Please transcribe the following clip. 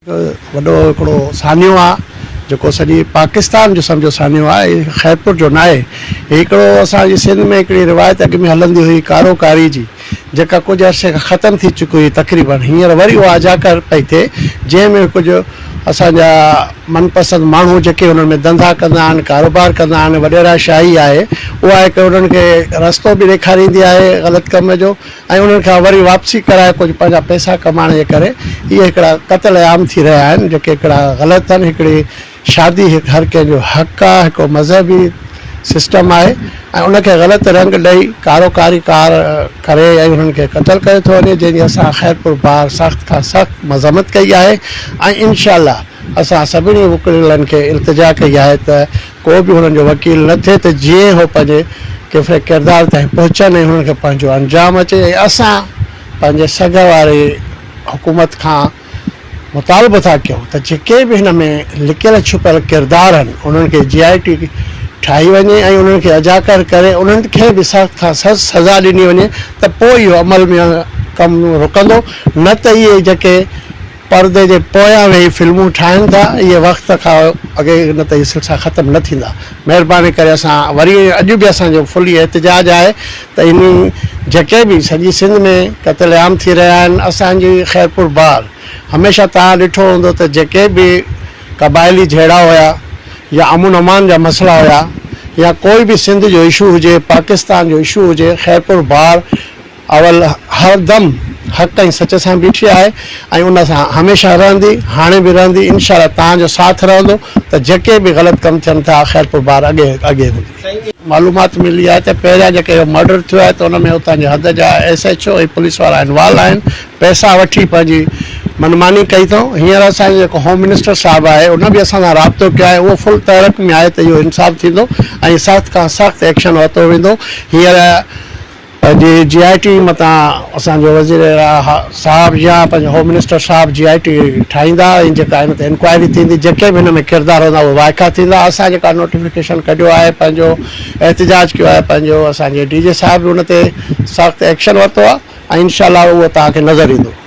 وڏو هڪڙو سانحو آ جيڪو سڄي پاڪستان جو سمجهو سانحو آ هي خيرپور جو ناهي هي هڪڙو اسان جي سنڌ ۾ هڪڙي روايت اڳ ۾ هلندي هئي ڪارو ڪاري جي جيڪا ڪجهه عرصي کان ختم ٿي چڪي هئي تقريبن هينئر وري اها اجاڪر پئي ٿئي جنهن ۾ ڪجهه اسان جا من پسند ماڻهو جيڪي انهن ۾ ڌنڌا ڪندا آهن ڪاروبار ڪندا آهن وڏيرا شاهي آهي اها هڪ انهن کي رستو به ڏيکاريندي آهي غلط ڪم جو ۽ انهن کان وري واپسي ڪرائي ڪجهه پنهنجا پئسا ڪمائڻ جي ڪري اهي هڪڙا قتل عام ٿي رهيا آهن جيڪي هڪڙا غلط اهن هڪڙي شادي هڪ هر ڪنهن جو حق آهي هڪ مذهبي سسٽم آهي ۽ ان کي غلط رنگ ڏئي ڪارو ڪاري ڪار ڪري ۽ انهن کي قتل ڪيو ٿو وڃي جنهن جي اسان خيرپور بار سخت کان سخت مذمت ڪئي آهي ۽ انشاء الله اسان سڀني وڪڙيلن کي التجا ڪئي آهي ته ڪو به هنن جو وڪيل نه ٿئي ته جيئن هو پنهنجي ڪيفري ڪردار تائين پهچن ۽ هنن کي پنهنجو انجام اچي ۽ اسان پنهنجي سگهه واري حڪومت کان مطالبو ٿا ڪيون ته جيڪي به هن ۾ لڪيل ڇپيل ڪردار هن انهن کي جي آء ٽي ٺاهي وڃي ۽ انهن کي اجاڪر ڪري انهن کي به سخت کان سخت سزا ڏني وڃي ته پوء اهو عمل ۾ ڪم رڪندو نه ته اهي جيڪي پردي جي پويان ويهي فلمون ٺاهن ٿا اهي وقت کان اڳي نه ته اهي سلسلا ختم نه ٿيندا مهرباني ڪري اسان وري اڄ به اسان جو فل اهي احتجاج آهي ته انهي جيڪي به سڄي سنڌ ۾ قتل عام ٿي رهيا آهن اسان جي خيرپور بار هميشه توهان ڏٺو هوندو ته جيڪي به قبائلي جهيڙا هيا يا امن امان جا مسئلا هيا يا ڪوئي به سنڌ جو اشو هجي پاڪستان جو اشو هجي خيرپور بار اول هر دم حق ۽ سچ سان بيٺي آهي ۽ ان سان هميشه رهندي هاڻي به رهندي انشاء الله توهان جو ساٿ رهندو ته جيڪي به غلط ڪم ٿين ٿا خيرپور بار اڳي اڳي هوندي. معلومات ملي آهي ته پهريان جيڪي اهو مرڊر ٿيو آهي ته ان ۾ اتان جي حد جا ايس ايڇ او ۽ پوليس وارا انوالو آهن پئسا وٺي پنهنجي من ماني ڪئي اٿئون هينئر اسان جو جيڪو هوم منسٽر صاحب آهي ان به اسان سان رابطو ڪيو آهي اهو فل تحرڪ ۾ آهي ته اهو انصاف ٿيندو ۽ سخت کان سخت ايڪشن ورتو ويندو هينئر اڄ جي آء ٽي متان اسان جو وزير اعليٰ صاحب يا پنهنجو هوم منسٽر صاحب جي آء ٽي ٺاهيندا ۽ جيڪا ان تي انڪوائري ٿيندي جيڪي به ان ۾ ڪردار هوندا اهي وائکا ٿيندا اسان جيڪا نوٽيفڪيشن ڪڍيو آهي پنهنجو احتجاج ڪيو آهي پنهنجو اسان جي ڊي جي صاحب به ان تي سخت ايڪشن ورتو آهي ۽ انشاء الله اهو توهان کي نظر ايندو.